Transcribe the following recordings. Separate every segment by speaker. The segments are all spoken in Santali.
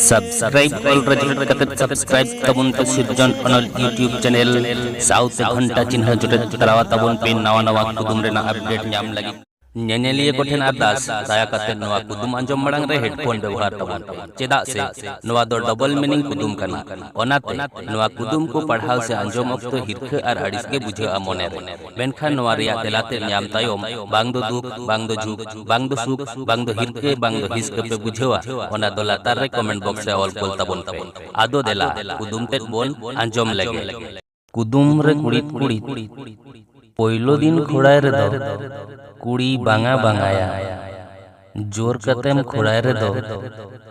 Speaker 1: ᱥᱟᱵᱥᱠᱨᱟᱭᱤᱵ ᱚᱞ ᱨᱮᱡᱤᱞ ᱠᱟᱛᱮ ᱥᱟᱵᱥᱠᱨᱟᱭᱤᱵ ᱛᱟᱵᱚᱱ ᱯᱮ ᱥᱤᱨᱡᱚᱱ ᱚᱱᱚᱞ ᱭᱩᱴᱤᱭᱩᱵ ᱪᱮᱱᱮᱞ ᱥᱟᱶᱛᱮ ᱜᱷᱚᱱᱴᱟ ᱪᱤᱱᱦᱟᱹ ᱡᱚᱴᱮᱫ ᱛᱟᱞᱟᱣᱟ ᱛᱟᱵᱚᱱ ᱯᱮ ᱱᱟᱣᱟ ᱱᱟᱣᱟ ᱠᱩᱫᱩᱢ ᱨᱮᱱᱟᱜ ᱟᱯᱰᱮᱴ ᱧᱟᱢ ᱞᱟᱹᱜᱤᱫ ᱧᱮᱧᱮᱞᱤᱭᱟᱹ ᱠᱚᱴᱷᱮᱱ ᱟᱨᱫᱟᱥ ᱫᱟᱭᱟ ᱠᱟᱛᱮ ᱱᱚᱣᱟ ᱠᱩᱫᱩᱢ ᱟᱸᱡᱚᱢ ᱢᱟᱲᱟᱝ ᱨᱮ ᱦᱮᱰᱯᱷᱳᱱ ᱵᱮᱵᱚᱦᱟᱨ ᱛᱟᱵᱚᱱ ᱯᱮ ᱪᱮᱫᱟᱜ ᱥᱮ ᱱᱚᱣᱟ ᱫᱚ ᱰᱚᱵᱚᱞ ᱢᱤᱱᱤᱝ ᱠᱩᱫᱩᱢ ᱠᱟᱱᱟ ᱚᱱᱟᱛᱮ ᱱᱚᱣᱟ ᱠᱩᱫᱩᱢ ᱠᱚ ᱯᱟᱲᱦᱟᱣ ᱥᱮ ᱟᱸᱡᱚᱢ ᱚᱠᱛᱚ ᱦᱤᱨᱠᱷᱟᱹ ᱟᱨ ᱟᱹᱲᱤᱥ ᱜᱮ ᱵᱩᱡᱷᱟᱹᱜᱼᱟ ᱢᱚᱱᱮᱨᱮ ᱢᱮᱱᱠᱷᱟᱱ ᱱᱚᱣᱟ ᱨᱮᱭᱟᱜ ᱛᱮᱞᱟ ᱛᱮᱫ ᱧᱟᱢ ᱛᱟᱭᱚᱢ ᱵᱟᱝ ᱫᱚ ᱫᱩᱠ, ᱵᱟᱝ ᱫᱚ ᱡᱷᱩᱠ, ᱵᱟᱝ ᱫᱚ ᱥᱩᱠ, ᱵᱟᱝ ᱫᱚ ᱦᱤᱨᱠᱟᱹ, ᱵᱟᱝ ᱫᱚ ᱦᱤᱥᱠᱟᱹ ᱯᱮ ᱵᱩᱡᱷᱟᱹᱣᱟ ᱚᱱᱟ ᱫᱚ ᱞᱟᱛᱟᱨ ᱨᱮ ᱠᱚᱢᱮᱱᱴ ᱵᱚᱠᱥ ᱨᱮ ᱚᱞ ᱠᱩᱞ ᱛᱟᱵᱚᱱ ᱯᱮ᱾ ᱟᱫᱚ ᱫᱮᱞᱟ ᱠᱩᱫᱩᱢ ᱛᱮᱫ ᱵᱚᱱ ᱟᱸᱡᱚᱢ ᱞᱮᱜᱮ᱾ ᱠᱩᱫᱩᱢ ᱨᱮ ᱠᱩᱲᱤᱫ ᱠᱩᱲᱤᱫ ᱯᱳᱭᱞᱳ ᱫᱤᱱ ᱠᱷᱩᱲᱟᱭ ᱨᱮᱫᱚ ᱠᱩᱲᱤ ᱵᱟᱝᱟ ᱵᱟᱝᱟᱭᱟ᱾ ᱡᱳᱨ ᱠᱟᱛᱮᱢ ᱠᱷᱩᱲᱟᱭ ᱨᱮᱫᱚ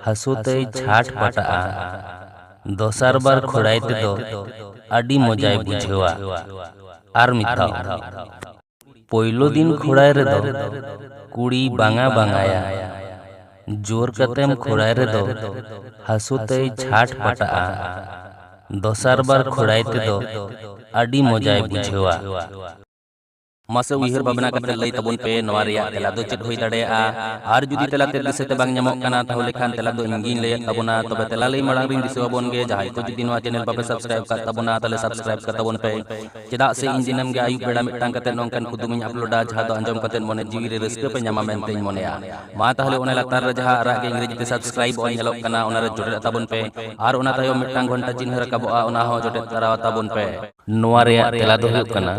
Speaker 1: ᱦᱟᱹᱥᱩ ᱛᱮᱭ ᱪᱷᱟᱴ ᱯᱟᱴᱟᱜᱼᱟ᱾ ᱫᱚᱥᱟᱨ ᱵᱟᱨ ᱠᱷᱩᱲᱟᱭ ᱛᱮᱫᱚ ᱟᱹᱰᱤ ᱢᱚᱡᱟᱭ ᱵᱩᱡᱷᱟᱹᱣᱟ᱾ ᱟᱨ ᱢᱤᱫᱷᱟᱣ᱾ ᱯᱳᱭᱞᱳ ᱫᱤᱱ ᱠᱷᱩᱲᱟᱭ ᱨᱮᱫᱚ ᱠᱩᱲᱤᱭ ᱵᱟᱝᱟ ᱵᱟᱝᱟᱭᱟ᱾ ᱡᱳᱨ ᱠᱟᱛᱮᱢ ᱠᱷᱩᱲᱟᱭ ᱨᱮᱫᱚ ᱦᱟᱹᱥᱩ ᱛᱮᱭ ᱪᱷᱟᱴ ᱯᱟᱴᱟᱜᱼᱟ᱾ ᱫᱚᱥᱟᱨ ᱵᱟᱨ ᱠᱷᱩᱲᱟᱭ ᱛᱮᱫᱚ ᱟᱹᱰᱤ ᱢᱚᱡᱟᱭ ᱵᱩᱡᱷᱟᱹᱣᱟ᱾ ᱢᱟᱥᱮ ᱩᱭᱦᱟᱹᱨ ᱵᱷᱟᱵᱽᱱᱟ ᱠᱟᱛᱮ ᱞᱟᱹᱭ ᱛᱟᱵᱚᱱ ᱯᱮ ᱱᱚᱣᱟ ᱨᱮᱭᱟᱜ ᱛᱮᱞᱟ ᱫᱚ ᱪᱮᱫ ᱦᱩᱭ ᱫᱟᱲᱮᱭᱟᱜᱼᱟ ᱟᱨ ᱡᱩᱫᱤ ᱛᱮᱞᱟ ᱛᱮ ᱫᱤᱥᱟᱹ ᱛᱮ ᱵᱟᱝ ᱧᱟᱢᱚᱜ ᱠᱟᱱᱟ ᱛᱟᱦᱚᱞᱮ ᱠᱷᱟᱱ ᱛᱮᱞᱟ ᱫᱚ ᱤᱧ ᱜᱤᱧ ᱞᱟᱹᱭᱮᱫ ᱛᱟᱵᱚᱱᱟ ᱛᱚᱵᱮ ᱛᱮᱞᱟ ᱞᱟᱹᱭ ᱢᱟᱲᱟᱝ ᱨᱤᱧ ᱫᱤᱥᱟᱹ ᱟᱵᱚᱱ ᱜᱮ ᱡᱟᱦᱟᱸᱭ ᱠᱚ ᱡᱩᱫᱤ ᱱᱚᱣᱟ ᱪᱮᱱᱮᱞ ᱵᱟᱯᱮ ᱥᱟᱵᱥᱠᱨᱟᱭᱤᱵ ᱠᱟᱜ ᱛᱟᱵᱚᱱᱟ ᱛᱟᱦᱚᱞᱮ ᱥᱟᱵᱥᱠᱨᱟᱭᱤᱵ ᱠᱟᱜ ᱛᱟᱵᱚᱱ ᱯᱮ ᱪᱮᱫᱟᱜ ᱥᱮ ᱤᱧ ᱫᱤᱱᱟᱹᱢ ᱜᱮ ᱟᱹᱭᱩᱵ ᱵᱮᱲᱟ ᱢᱤᱫᱴᱟᱝ ᱠᱟᱛᱮ ᱱᱚᱝᱠᱟᱱ ᱠᱩᱫᱩᱢ ᱤᱧ ᱟᱯᱞᱳᱰᱟ ᱡᱟᱦᱟᱸ ᱫᱚ ᱟᱸᱡᱚᱢ ᱠᱟᱛᱮ ᱢᱚᱱᱮ ᱡᱤᱣᱤ ᱨᱮ ᱨᱟᱹᱥᱠᱟᱹ ᱯᱮ ᱧᱟᱢᱟ ᱢᱮᱱᱛᱮ ᱤᱧ ᱢᱚᱱᱮᱭᱟ ᱢᱟ ᱛᱟᱦᱚᱞᱮ ᱚᱱᱟ ᱞᱟᱛᱟᱨ ᱨᱮ ᱡᱟᱦᱟᱸ ᱟᱨᱟᱜ ᱜᱮ ᱤᱝᱨᱮᱡᱤ ᱛᱮ ᱥᱟᱵᱥᱠᱨᱟᱭᱤᱵ ᱚᱞ ᱧᱮᱞᱚᱜ ᱠᱟᱱᱟ ᱚᱱᱟ ᱨᱮ ᱡᱚᱴᱮᱫ ᱛᱟᱵᱚᱱ ᱯᱮ ᱟᱨ ᱚᱱᱟ ᱛᱟᱭᱚᱢ ᱢᱤᱫᱴᱟᱝ ᱜᱷᱚᱱᱴᱟ ᱪᱤᱱᱦᱟᱹ ᱨᱟᱠᱟᱵᱚᱜᱼᱟ ᱚᱱᱟ ᱦᱚᱸ ᱡᱚᱴᱮᱫ ᱛᱟᱨᱟ ᱛᱟᱵᱚᱱ ᱯᱮ ᱱᱚᱣᱟ ᱨᱮᱭᱟᱜ ᱛᱮᱞᱟ ᱫᱚ ᱦᱩᱭᱩᱜ ᱠᱟᱱᱟ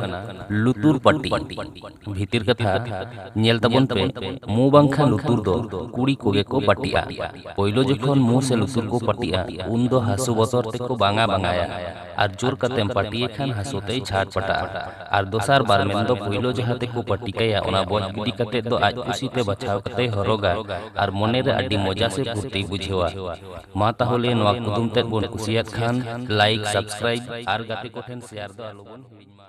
Speaker 1: ᱞᱩᱛᱩᱨ ᱯᱟᱹᱴᱤ᱾ ᱵᱷᱤᱛᱤᱨ ᱠᱟᱛᱷᱟ, ᱧᱮᱞ ᱛᱟᱵᱚᱱ ᱯᱮ, ᱢᱩ ᱵᱟᱝᱠᱷᱟᱱ ᱞᱩᱛᱩᱨ ᱫᱚ ᱠᱩᱲᱤ ᱠᱚᱜᱮ ᱠᱚ ᱯᱟᱹᱴᱤᱜᱼᱟ᱾ ᱯᱳᱭᱞᱳ ᱡᱚᱠᱷᱚᱱ ᱢᱩ ᱥᱮ ᱞᱩᱛᱩᱨ ᱠᱚ ᱯᱟᱹᱴᱤᱜᱼᱟ ᱩᱱ ᱫᱚ ᱦᱟᱹᱥᱩ ᱵᱚᱛᱚᱨ ᱛᱮ ᱠᱚ ᱵᱟᱝᱟ ᱵᱟᱝᱟᱭᱟ ᱟᱨ ᱡᱳᱨ ᱠᱟᱛᱮᱢ ᱯᱟᱹᱴᱤᱭᱮ ᱠᱷᱟᱱ ᱦᱟᱹᱥᱩ ᱛᱮᱭ ᱪᱷᱟᱴ ᱯᱟᱴᱟᱜᱼᱟ᱾ ᱟᱨ ᱫᱚᱥᱟᱨ ᱵᱟᱨ ᱢᱮᱱ ᱫᱚ ᱯᱳᱭᱞᱳ ᱡᱟᱦᱟᱸ ᱛᱮ ᱠᱚ ᱯᱟᱹᱴᱤ ᱠᱟᱭᱟ ᱚᱱᱟ ᱵᱚᱡ ᱜᱤᱰᱤ ᱠᱟᱛᱮ ᱫᱚ ᱟᱡ ᱠᱩᱥᱤ ᱛᱮ ᱵᱟᱪᱷᱟᱣ ᱠᱟᱛᱮᱭ ᱦᱚᱨᱚᱜᱟ ᱟᱨ ᱢᱚᱱᱮ ᱨᱮ ᱟᱹᱰᱤ ᱢᱚᱡᱟ ᱥᱮ ᱯᱷᱩᱨᱛᱤᱭ ᱵᱩᱡᱷᱟᱹᱣᱟ᱾ ᱢᱟ ᱛᱟᱦᱚᱞᱮ ᱱᱚᱣᱟ ᱠᱩᱫᱩᱢ ᱛᱮᱫ ᱵᱚᱱ ᱠᱩᱥᱤᱭᱟᱫ ᱠᱷᱟᱱ ᱞᱟᱭᱤᱠ ᱥᱟᱵᱥᱠᱨᱟᱭᱤᱵ ᱟᱨ ᱜᱟᱛᱮ ᱠᱚᱴᱷᱮᱱ ᱥᱮᱭᱟᱨ ᱫᱚ ᱟᱞᱚ ᱵᱚᱱ ᱦᱤᱲᱤᱧ ᱢᱟ